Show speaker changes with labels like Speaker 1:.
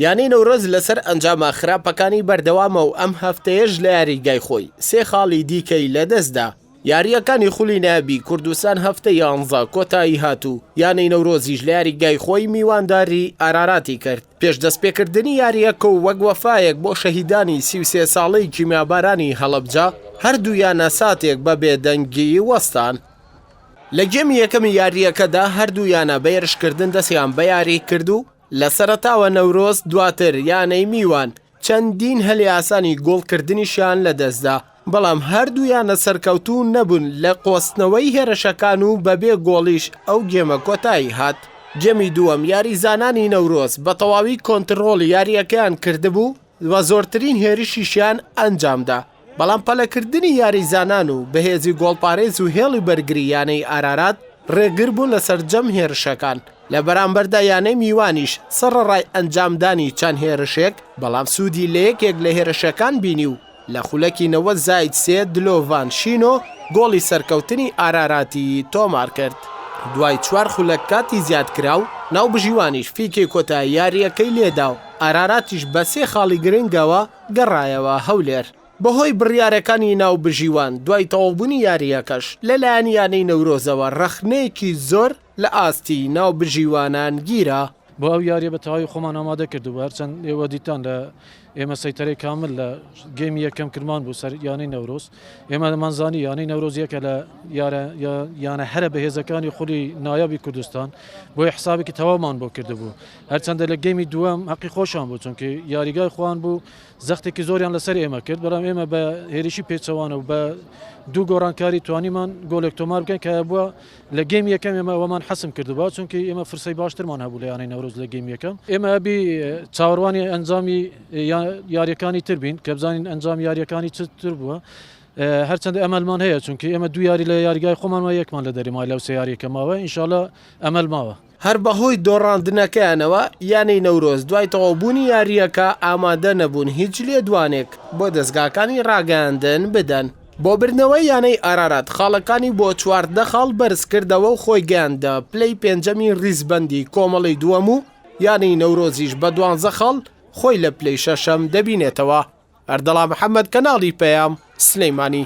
Speaker 1: یانەی نەورۆز لەسەر ئەنجامە خراپەکانی بەردەوامە و ئەم هەفتەیەش لە یاریگای خۆی سێ خاڵی دیکەی لەدەستدا یاریەکانی خولی نابی کوردستان هەفتە یانزە کۆتایی هاتوو یانەی نەورۆزیش لە یاریگای خۆی میوانداری ئاراراتی کرد پێش دەست پێکردنی یاریەکە و وەک وەفاەک بۆ شەهیدانی سیوسێ ساڵی کیمیابارانی هەڵەبجە هەردوو یانە ساتێک بە بێدەنگی وەستان لە گێمی یەکەمی یارییەکەدا هەردوو یانە بە هێرشکردن دەستیان بە یاری کرد و لە سەرەتاوە نەورۆز دواتر یانەی میوان چەندین هەلی ئاسانی گۆڵکردنیشیان لەدەستدا، بەڵام هەردوو یانە سەرکەوتوو نەبوون لە قۆستنەوەی هێرشەکان و بەبێ گۆڵیش ئەو گێمە کۆتایی هات. گێمی دووەم یاریزانانی نەورۆز بە تەواوی کۆنتڕۆڵی یارییەکەیان کردبوو و زۆرترین هێرشیشیان ئەنجامدا، بەڵام پەلەکردنی یاریزانان و بەهێزی گۆڵپارێز و هێڵی بەرگری یانەی ئارارات رێگر بوون لە سەرجەم هێرشەکان، لە بەرامبەردا یانەی میوانیش سەڕەڕای ئەنجامدانی چەند هێرشێک، بەڵام سوودی لە یەکێک لە هێرشەکان بینی و لە خولەکی نەوەد زائید سێ دلۆڤان شینۆ گۆڵی سەرکەوتنی ئاراراتی تۆمارکرد. دوای چوار خولەک کاتی زیادکراو، ناوبژیوانیش فیکەی کۆتایی یارییەکەی لێدا و ئاراراتیش بە سێ خاڵی گرنگەوە، گەڕایەوە هەولێر بەهۆی بڕیارەکانی ناوبژیوان، دوای تەواوبوونی یارییەکەش لەلایەن یانەی نەورۆزەوە رەخنەیەکی زۆر لە ئاستی ناوبژیوانان گیرا. بۆ ئەو یارییە بە
Speaker 2: تەواوی خۆمان ئامادە کردبوو، هەرچەند ئێوە دیتان لە ئێمە سەیتەرەی کامل لە گێمی یەکەم کرمان بوو سەر یانەی نەورۆز، ئێمە دەمانزانی یانەی نەورۆز یەکە لە یانە هەرە بەهێزەکانی خولی نایابی کوردستان، بۆیە حسابێکی تەواومان بۆ کردبوو، هەرچەندە لە گێمی دووەم هەقی خۆشان بوو چونکی یاریگای خۆیان بوو زەختێکی زۆریان لەسەر ئێمە کرد بەڵام ئێمە بە هێریشی پێچەوانە و بە دوو گۆڕانکاری توانیمان گۆلێک تۆمار بکەین کە بووە لە گێم یەکەم ئێمە ئەوەمان حەسم کردبا چونکی ئێمە فرسەی باشترمان هەبوو لە یانەی نەورۆز لە گێم یەکەم ئێمە ئەبی چاوەڕوانی ئەنجامی یاریەکانی تر بین کە بزانین ئەنجام یاریەکانی چتر بووە هەرچەند ئەمەلمان هەیە چونکی ئێمە دو یاری لە یاریگای خۆمانەوە یەکمان لە دەریمای لەو سیارێکەماوە ئینشاالله ئەمەل ماوە هەر بەهۆی
Speaker 1: دۆڕاندنەکەیانەوە یانەی نەورۆز دوای تەواوبوونی یارییەکە ئامادە نەبوون هیچ لێدوانێک بۆ دەزگاکانی ڕاگەیاندن بدەن. بۆ بردنەوەی یانەی ئارارات خاڵەکانی بۆ چواردە خاڵ بەرزکردەوە و خۆی گەیاندە پلەی پێنجەمی ریزبەندی کۆمەڵەی دووەم و یانەی نەورۆزیش بە دوانزە خاڵ خۆی لە پلەی شەشەم دەبینێتەوە. ئەردەڵا محەمەد کەناڵی پەیام، سلێمانی.